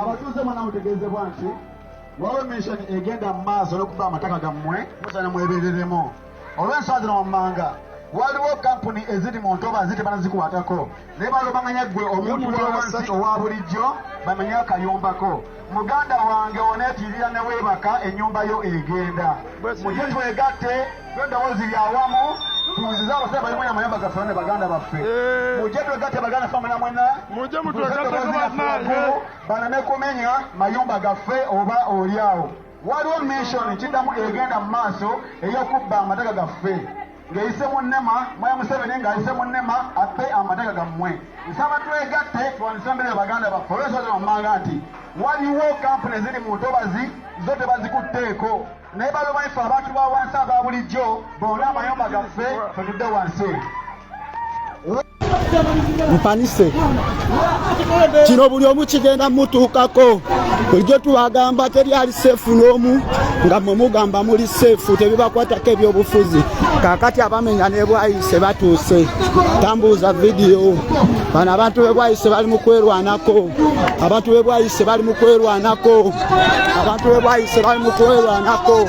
abatuuze mwena mutegeezebwa nti waliwo mention egenda mu maaso n'okuba amataka gammwe musana mwebereremu olw'ensonga zino wammanga waliwo kampuni eziri mu ntobazi tebanazikwatako naye balobanganya ggwe omuntu wawansi owa bulijjo bamanye akayombako muganda wange oneetirira ne weebaka ennyumba yo egenda mugye twegatte twedowoozi lyawamu tuwuziza abasajja balimu namayumba gaffe ne baganda baffe eh. mugye twegatte baganda ffe muna mwena baname kumenya mayumba gaffe oba oli awo Waliwo mission kiddamu egenda mu maaso ey'okubba amataka gaffe ng'eyise mu nema mwaya Museveni ng'ayise mu nema abbe amataka gammwe. Nsaba twegatte tulwanyise embeera ya baganda baffe olwensonga zino wammanga nti waliwo kampuni eziri mu ntobazi zo tebazikutteeko naye baloba ife abantu ba wansi aba bulijjo boone amayumba gaffe ffe tudde wansi. mpanise kino buli omu kigenda mutuukako bulijjo tubagamba teri ali seefu n'omu nga mwe mugamba muli seefu tebibakwatako ebyobufuzi kakati abamenya nebwayise batuuse tambuuza vidiyo bano abantu bebwayise bali mu kwerwanako abantu bebwayise bali mu kwerwanako abantu bebwayise bali mu kwerwanako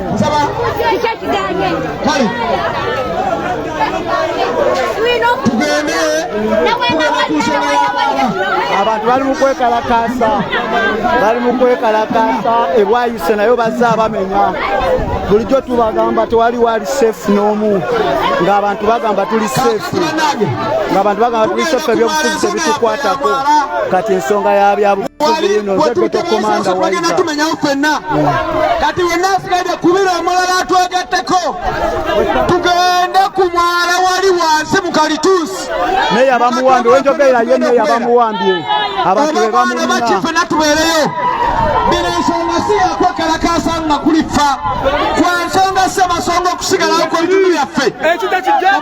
nsaba tugende abantu bali mu kwekalakaasa bali mu kwekalakaasa ebwayise nayo bazze abamenya bulijjo tubagamba tewali wali safe n'omu ng'abantu bagamba tuli safe ng'abantu bagamba tuli safe ebyobufuzi tebitukwatako kati ensonga yabyabu wali wetutebeesa bagenda tumenyawo fenna kati wenna asigaide kubira omulala atwegatteko tugende ku mwala wali wansi mu kalituusi meya bamuwambye wenjogeera ye meya bamuwambye abantu bebamuina bakifena tubeereyo bino ensonga si yakwekalakaasa nga kulifa kwa nsonga si amasonga okusigalawo kw'ebitundu byaffe ekyo tekijja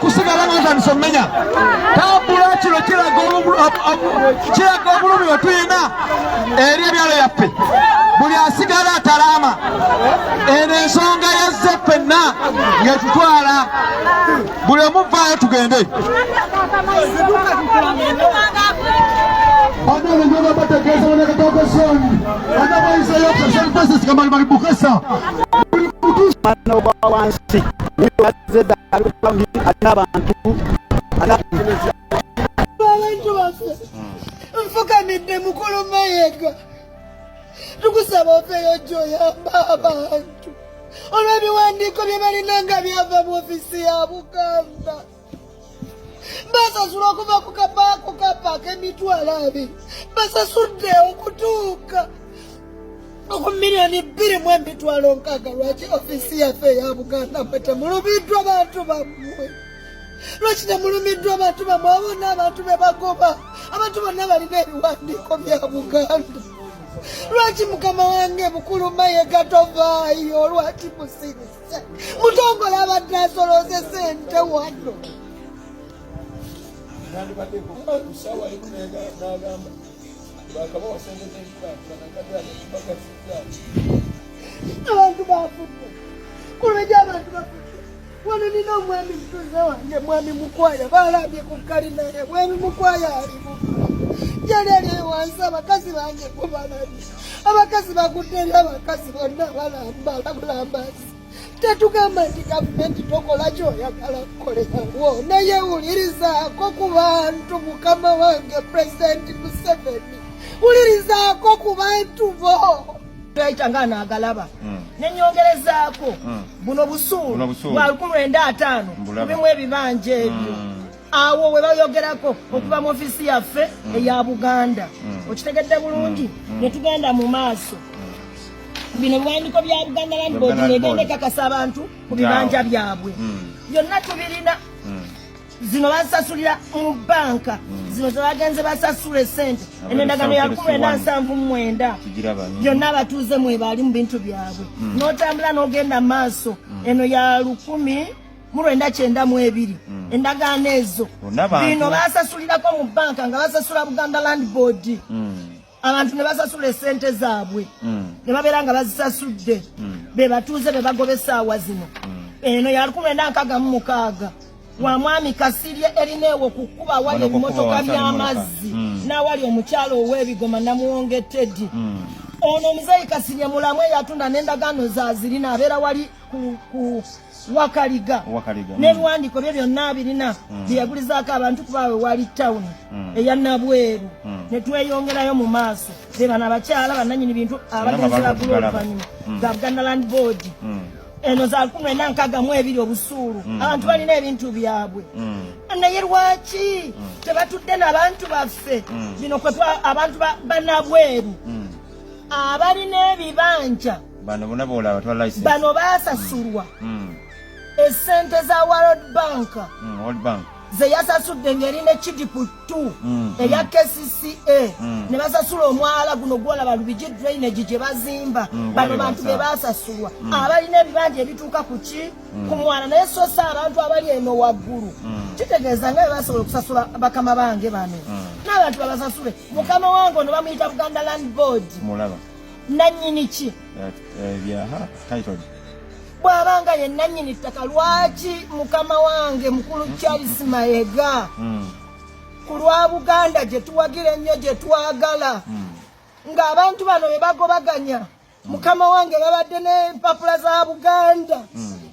kusigala nga ntandise omumenya tambula kino kiraga obulumi wetulina eri ebyalo byaffe buli asigala atalaama eno ensonga yazze ffenna ngetutwala buli omuvaayo tugende Mano, balanço, zedda alikulangi alina abantu abantu baffe nfukamidde mukulu mayega tukusaba ofeeyo gyoyamba abantu olw'ebiwandiiko bye balina nga byava mu ofisi ya buganda basasula okuva ku kapaako kapaaka emitwalo abiri basasudde okutuuka oku miliyoni bbiri mu emitwalo nkaaga lwaki ofiisi yaffe eya buganda mwe temulumiddwa bantu bammwe lwaki temulumiddwa abantu bammwe abo n'abantu be bagoba abantu bonna balina ebiwandiiko bya buganda lwaki mukama wange mukulu mayega tovaayo lwaki musirisa mutongole abadde asolooza esente wano abantu bafudde kuleja abantu bafudde wano nina omwami mutuze wange mwami mukwaya balambye ku kalina ye mwami mukwaya alimu yali ali ewansi abakazi bange kubalabye abakazi bagudde eri abakazi bonna balamba bulambazi tetugamba nti gavumenti tokola kyoyagala kukolerawo naye wulirizaako ku bantu mukama wange pulezidenti museveni wulirizaako ku bantu bo ekya nga naagalaba hmm. nenyongerezaako hmm. buno busuulu bwa lukumi lwenda ataano mubimu ebibanja ebyo hmm. awo we bayogerako okuva mu ofisi yaffe mm. eya buganda mm. okitegedde bulungi mm. ne tugenda mu maaso bino biwandiko bya buganda land board negenda ekakasa abantu ku bibanja byabwe byonna tubirina zino basasulira mu banka zino zebagenze basasula esente eno endagano ya kumi ena nsanvu mumwenda byonna abatuuze mwebali mu bintu byabwe notambula nogenda maaso eno ya lukumi mu lwenda kyenda mu ebiri mm. endagaano ezo bino basasulirako mu banka nga basasula buganda land board mm. abantu ne basasula esente zaabwe mm. ne babeera nga bazisasudde be batuuze be bagoba essaawa zino eno ya lukumi lwenda nkaga mu mukaaga wa mwami kasirye erina ewo ku kkuba awali ebimotoka by'amazzi n'awali omukyalo ow'ebigoma namuwonge teddy ono omuzeeyi kasirye mulamu eyatunda n'endagaano zaazirina abeera wali ku wakaliga mm. ne lwandiko bye byonna abirina mm. byeyagulizaako abantu kubaawe wali tawuni mm. eya nabweru ne tweyongerayo mu maaso be bano abakyala bananyini bintu abagenzi bagula oluvanyuma ga buganda land board eno za lukumi lwena nkaga mu ebiri obusuulu abantu balina ebintu byabwe naye lwaki tebatudde nabantu baffe bino abantu banabweru abalina ebibanja bano bona bola batwa license bano basasulwa mm. mm. esente za world bank mm, world bank zeyasasudde ngeri ne kidipu 2 mm, mm. eya kcca mm. ne basasula omwala guno gwolaba lubigi drainage gye bazimba mm, bano bantu be basasulwa mm. abalina ebibanja ebituuka ku ki mm. ku mwana naye sosa abantu abali eno waggulu mm. kitegeeza nga bebasobola okusasula bakama bange bano mm. n'abantu babasasule mukama wange ono bamuyita buganda land board mulaba nannyini ki bw'aba nga ye nannyini ttaka lwaki mukama wange mukulu charles mayega hmm. ku lwa buganda gye tuwagira ennyo gye twagala hmm. ng'abantu bano be bagobaganya hmm. mukama wange babadde n'empapula za buganda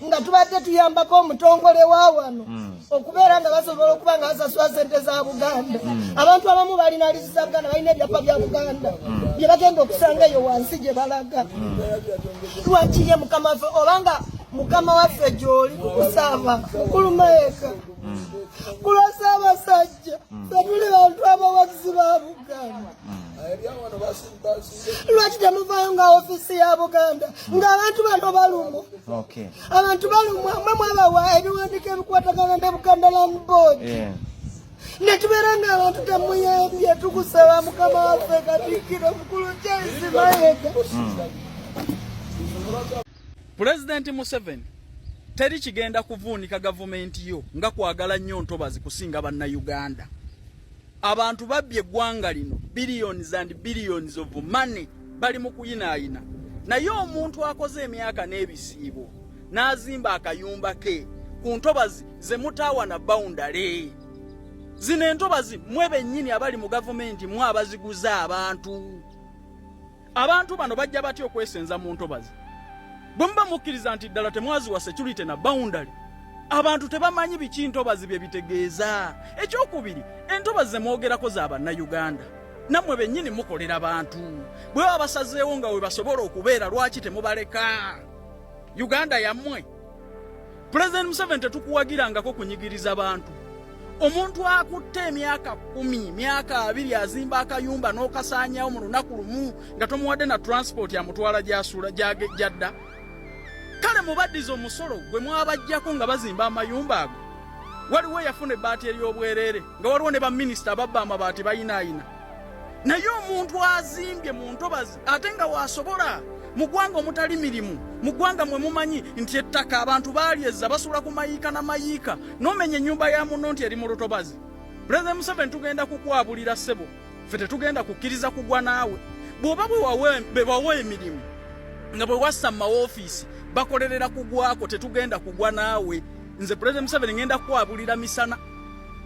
nga tubadde tuyambako omutongole wa wano hmm. okubeera nga basobola okuba nga basasula sente za buganda hmm. abantu abamu balina lizi za buganda balina ebyapa bya buganda hmm. bye bagenda okusanga eyo wansi gye balaga lwakiye mukama waffe obanga mukama waffe gyoli kukusaba mukulu maeka kulwasa abasajja fetuli bantu abawagizi ba buganda lwaki temuvayo nga ofisi ya buganda nga abantu bano balumwa abantu balumwa mwe mwabawa ebiwandiko ebikwatagana ne buganda land board netubeera nga abantu temuyambye tukusaba mukama waffe katikiro mukulu jaisi mayega pulezidenti museveni teri kigenda kuvuunika gavumenti yo nga kwagala nnyo ntobazi kusinga bannayuganda Abantu babbye eggwanga lino billions and billions of money bali mu kuyinaayina, naye omuntu akoze emyaka n'ebisiibo n'azimba akayumba ke ku ntobazi ze mutaawa na bawundale. Zino entobazi mwe bennyini abali mu gavumenti mwe abaziguza abantu. Abantu bano bajja batya okwesenza mu ntobazi bwe muba mukkiriza nti ddala temwaziwa security na boundary abantu tebamanyi biki ntobazi bye bitegeeza ekyokubiri entobazi zemwogerako za bannayuganda nammwe bennyini mukolera bantu bwe baba basazeewo nga we basobola okubeera lwaki temubaleka uganda yammwe President Museveni tetukuwagirangako kunyigiriza bantu. Omuntu akutte emyaka kumi, myaka abiri azimba akayumba n'okasaanyawo mu lunaku lumu nga tomuwadde na transport amutwala gy'asuula gy'adda. Kale mubaddize omusolo gwe mwabajjako nga bazimba amayumba ago. Waliwo eyafuna ebbaati ery'obwereere nga waliwo ne baminisita ababba amabaati bayinaayina. Naye omuntu azimbye mu ntobazi ate nga wasobola mu gwanga omutali mirimu mu gwanga mwe mumanyi nti ettaka abantu balyezza basula ku mayiika na mayiika nomenya ennyumba ya muno nti eri mu lutobazi pulezidenti museveni tugenda kukwabulira ssebo fe tetugenda kukkiriza kugwa naawe bw'oba bewawa emirimu nga bwe wassa mu mawofiisi bakolerera kugwako tetugenda kugwa naawe nze pulezidenti museveni ngenda kukwabulira misana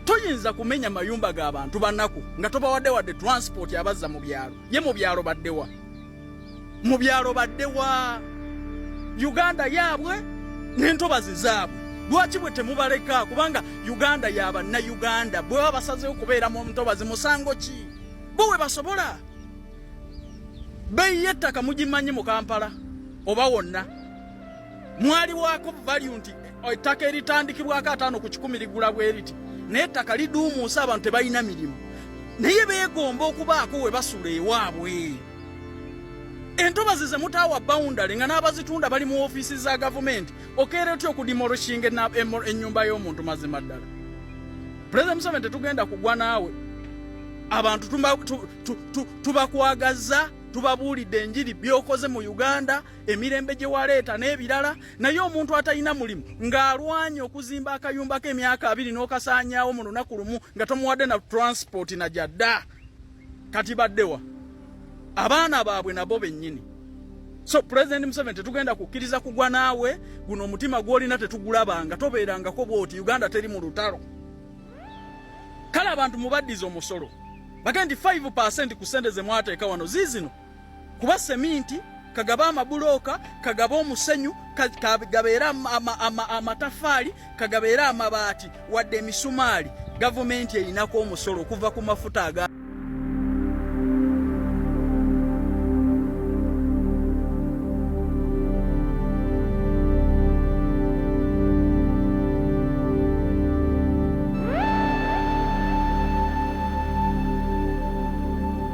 toyinza kumenya mayumba ga bantu banaku nga tobawadde wadde transport abazza mu byalo ye mu byalo baddewa mu byalo baddewa uganda yaabwe n'entobazi zaabwe lwaki bwe temubaleka kubanga uganda yabanna uganda bwe baba basazeewo kubeera mu ntobazi musango ki bo we basobola beeyi y'ettaka mugimanyi mu kampala oba wonna mwaliwaako value nti oh, ettaka eritandikibwako ataano ku kikumi ligula bweriti naye ettaka liduumuusa abantu tebalina mirimu naye beegomba okubaako we basula ewaabwe entobazi zemutaawa bawundale nga n'abazitunda bali mu ofiisi za gavumenti okeera otya okudimoroshinga ennyumba y'omuntu mazima ddala pulezida museveni tetugenda kugwa naawe abantu tubakwagaza tubabuulidde enjiri byokoze mu uganda emirembe gye waleeta n'ebirala naye omuntu atalina mulimu ng'alwanye okuzimba akayumbako emyaka abiri n'okasaanyaawo mu lunaku lumu nga tomuwadde na transport na gyadda kati baddewa abaana baabwe nabo bennyini so pulezidenti museveni tetugenda kukkiriza kugwa naawe guno omutima gw'olina tetugulabanga tobeerangako bwoti uganda teri mu lutalo kale abantu mubaddiza omusolo bage nti 5 ku sente ze mwateeka wano ziizino kuba seminti kagaba amabulooka kagaba omusenyu kagabeera amatafaali kagabeera amabaati wadde emisumaali gavumenti erinako omusolo okuva ku mafuta aga